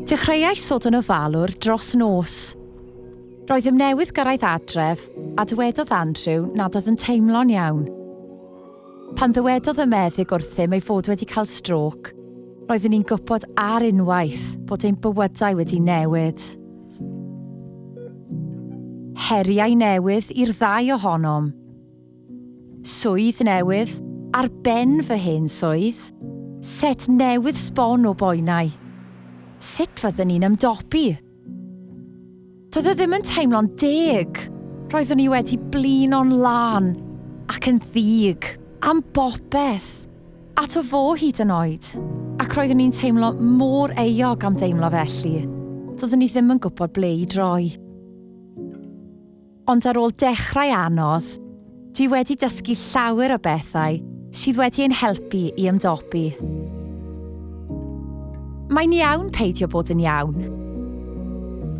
Dechreuais ddod yn ofalwr dros nos. Roedd ym newydd gyrraedd adref a dywedodd Andrew nad oedd yn teimlo'n iawn. Pan ddywedodd y meddyg wrthym ei fod wedi cael strôc, roeddwn i'n gwybod ar unwaith bod ein bywydau wedi newid. Heriau newydd i'r ddau ohonom. Swydd newydd ar ben fy hen swydd. Set newydd sbon o boenau. Sut fyddwn i'n ymdopi? Doedd e ddim yn teimlo'n deg. Roeddwn i wedi blino'n lân ac yn ddig am bopeth. Ato fo hyd yn oed. Ac roeddwn i'n teimlo mor euog am deimlo felly, doeddwn i ddim yn gwybod ble i droi. Ond ar ôl dechrau anodd, dwi wedi dysgu llawer o bethau sydd wedi ein helpu i ymdopi. Mae'n iawn peidio bod yn iawn.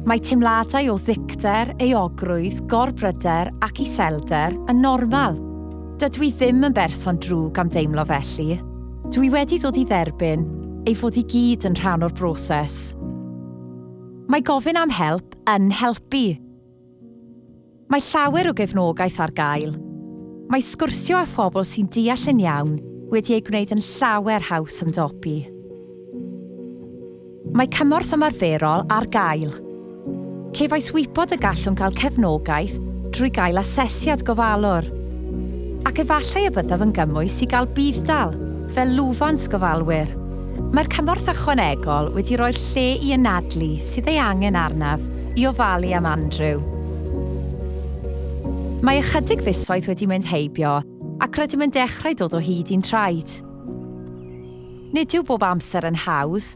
Mae teimladau o ddicter, euogrwydd, gorbryder ac iselder yn normal. Dydw i ddim yn berson drwg am deimlo felly. Dw i wedi dod i dderbyn ei fod i gyd yn rhan o'r broses. Mae gofyn am help yn helpu. Mae llawer o gefnogaeth ar gael. Mae sgwrsio â phobl sy'n deall yn iawn wedi ei gwneud yn llawer haws ymdopi. Mae cymorth ymarferol ar gael. Cefais wybod y gallwn gael cefnogaeth drwy gael asesiad gofalwr. Ac efallai y byddaf yn gymwys i gael budd-dal fel lwfans gofalwyr. Mae'r cymorth ychwanegol wedi rhoi'r lle i anadlu sydd ei angen arnaf i ofalu am Andrew. Mae ychydig fisoedd wedi mynd heibio ac rydym yn dechrau dod o hyd i'n traed. Nid yw bob amser yn hawdd,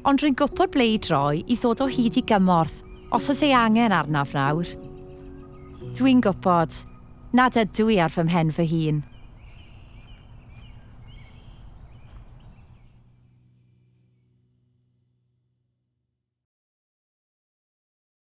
ond rwy'n gwybod ble i droi i ddod o hyd i gymorth os oes ei angen arnaf nawr. Dwi'n gwybod nad ydw i ar fy mhen fy hun.